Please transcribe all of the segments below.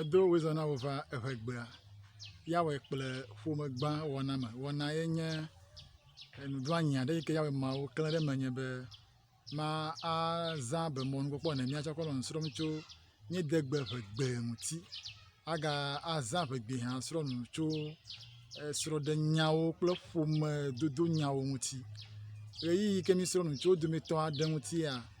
Edo wò zã na wò va eŋɛ gbea, ya wɔe kple ƒome gã wɔna me. Wɔna ye nye enu ɖo anyi aɖe yike ya wɔe ma wò kle ɖe me nye be, ma a zã be mɔnu kpɔkpɔ ene mía tsɛ kɔ nɔ nu srɔm tso mía de gbe ƒe gbe ŋuti. A ga a zã ƒe gbe hã srɔ nu tso esrɔ ɖe nyawo kple ƒome dodo nyawo ŋuti. Ɣeyiɣi yike mi srɔ nu tso wò dometɔ aɖe ŋuti ya.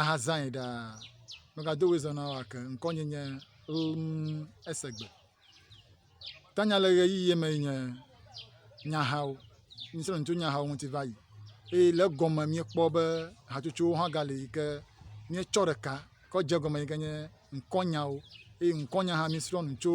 Ahazãe ɖaa. Megado woe zã na wo ake. Ŋkɔnye nye Lmesegbe. Tanya le ɣeyiɣi me nye nyahawo. Mísrɔ̃ nu tso nyahawo ŋuti va yi eye le egɔme míekpɔ be hatsotsowo hã gale yi ke míetsɔ ɖeka kɔ dze egɔme yi ke nye ŋkɔnyawo eye ŋkɔnya hã mísrɔ̃ nu tso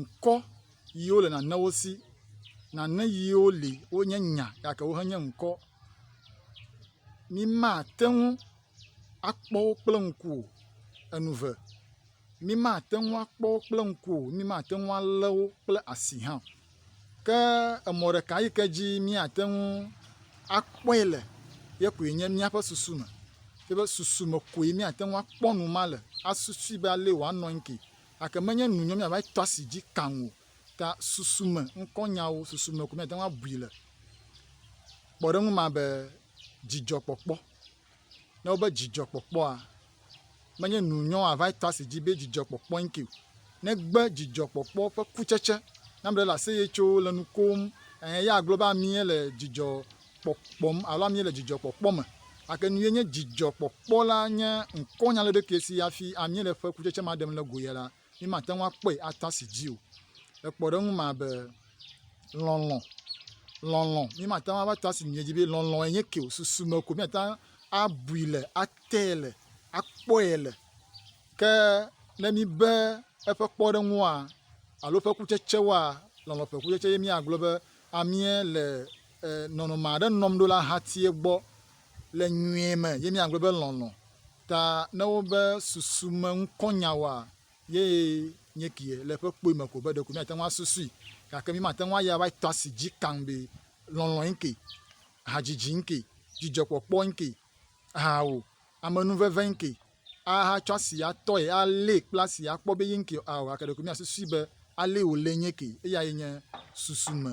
ŋkɔ yiwo le nanewo si. Nane yiwo li wonye nya gake wo menye ŋkɔ o. Mi mate ŋu akpɔ wo kple ŋku o. Enu eve, mi mate ŋu akpɔ wo kple ŋku o, mi mate ŋu alé wo kple asi hã o. Ke emɔ ɖeka yi ke dzi miate ŋu akpɔe le ye koe nye miaƒe susu me. Miaƒe susu me koe miate ŋu akpɔ nu ma le asusui be alee wòanɔ anyi ke. Gake menye nunyɔ míava tɔ asi dzi kaŋ o. Ta susu me ŋkɔnyawo, susu me ko míate ŋu abui le. Kpɔɖeŋu ma be dzidzɔkpɔkpɔ. Ne wobe dzidzɔkpɔkpɔa, menye nunyɔ ava tɔ asi dzi be dzidzɔkpɔkpɔ ŋkee o. Negbe dzidzɔkpɔkpɔ ƒe kutsetse. Ne ame ɖe le aseye tso le nu kom, eya agblɔ be amee le dzidzɔ kpɔkpɔm alo ami le dzidzɔkpɔkpɔ me. Ake nue nye dzidzɔkpɔkpɔ la nye ŋkɔnya le ɖokie si afi ami le ƒe kutsetse ma ɖem le go ya la, mi mate ŋu akpɔe ata si dzi o. Le kpɔɖeŋu ma be lɔlɔ, lɔlɔ, mi mate ŋu ava ta si miedzi be lɔlɔ enye ke o, susu me ko miate ŋu abui le, ate le, akpɔe le. Ke ne mi be eƒe kpɔɖeŋua alo ƒe kutsetsewoa, lɔlɔ ƒe kutsetse ye mi agblɔ be amie le E, nɔnɔme aɖe nɔm ɖo le ahatie gbɔ le nyuie me ye míagblɔ be lɔlɔ̃. Ta ne wobe susume ŋkɔnyawoa, yee nye kie le eƒe kpoe me ko be ɖeko míate ŋu asusui. Gake mímate ŋu ayi ava tɔ asi dzi kaŋ be lɔlɔ̃e ŋkee, hadzidzi ŋkee, dzidzɔkpɔkpɔ ŋkee, ao, amenuveve ŋkee, ahatsɔ asi atɔe, alée kple asi akpɔ be ye ŋkee ao. Gake ɖeko míasusui be alee wòlee nye kee. Eyae nye susume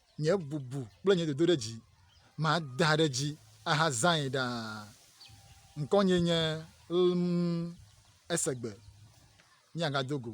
Nye bubu kple nye dodoɖedzi, mada ɖe edzi ahazãe ɖaa. Ŋkɔnyee nye lm esegbe, miagado go.